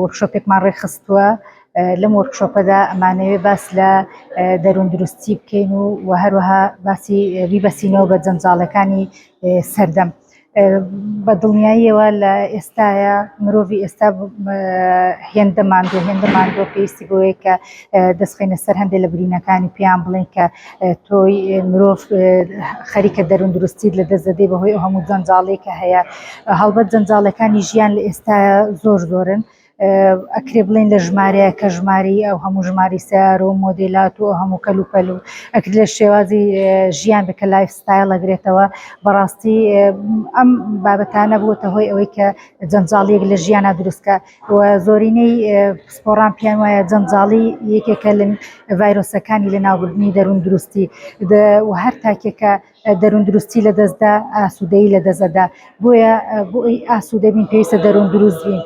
وۆرکشۆپێکمان ڕێکخستووە، لەم وۆرکشۆپەدا ئەمانەوێ باس لە دەروون دروستی بکەین و وە هەروەها باسی بیبەستینەوە بە جەنجاڵەکانی سەردەم. بە دڵنیاییەوە لە ئێستایا مرۆڤی ئێستا هێندە ماندووە هێندە ماندووە پێویستی بەوەیە کە دەستخەینە سەر هەندێ لە برینەکانی پێیان بڵێن کە تۆی مرۆڤ خەریکە دەروون دروستیت لە دەست دەدەی بەهۆی ئەو هەموو جەنجاڵێکە هەیە هەڵبەت جەنجاڵەکانی ژیان لە ئێستا زۆر زۆرن. ئەکرێ بڵێن لە ژمارەیە کە ژماری ئەو هەموو ژماری سیار و مۆدیلات و هەموو کەل و پەل و ئەکرد لە شێوازی ژیان بکە لایف ستایل ئەگرێتەوە بەڕاستی ئەم بابەتانە بووتە هۆی ئەوەی کە جەنجاڵیەک لە ژیانە دروستکە و زۆرینەی پسپۆڕان پێیان وایە جەنجاڵی یەکێکە لە ڤایرۆسەکانی لە ناوبردنی دەروون دروستی و هەر تاکێکە دەروون دروستی لە دەستدا ئاسوودەی لە دەزەدا بۆیە بۆی ئاسوودەبین پێویستە دەروون دروست بین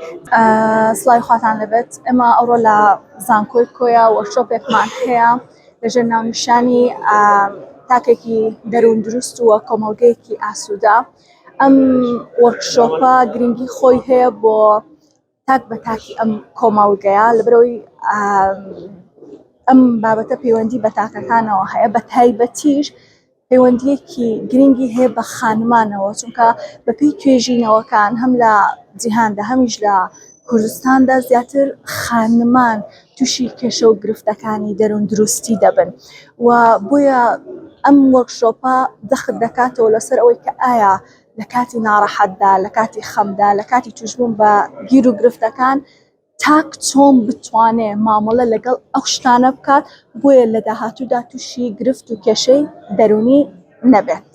سڵای خواتان لەبێت ئەمە ئەوڕۆ لە زانکۆی کۆیە وەرشۆپێکمان هەیە لەژێر ناونیشانی تاکێکی دەروون دروست وە کۆمەڵگەیەکی ئاسوودا ئەم وەرکشۆپە گرنگی خۆی هەیە بۆ تاک بە تاکی ئەم کۆمەڵگەیە لەبەرەوەی ئەم بابەتە پەیوەندی بە تاکەکانەوە هەیە بە تایبەتیش پەیوەندیەکی گرنگی هەیە بە خانمانەوە چونکە بەپی توێژینەوەکان هەم لە جیهاندا هەمیش لە کوردستاندا زیاتر خانمان توشی کێشە و گرفتەکانی دەرون دروستی دەبن و بۆیە ئەم وەرکشۆپە دەخت دەکاتەوە لەسەر ئەوەی کە ئایا لە کاتی ناڕەحەتدا لە کاتی خەمدا لە کاتی توشبوون بە گیر و گرفتەکان تاک چۆن بتوانێ مامەڵە لەگەڵ ئەو شتانە بکات بۆیە لە داهاتوودا تووشی گرفت و کێشەی دەرونی نەبێت.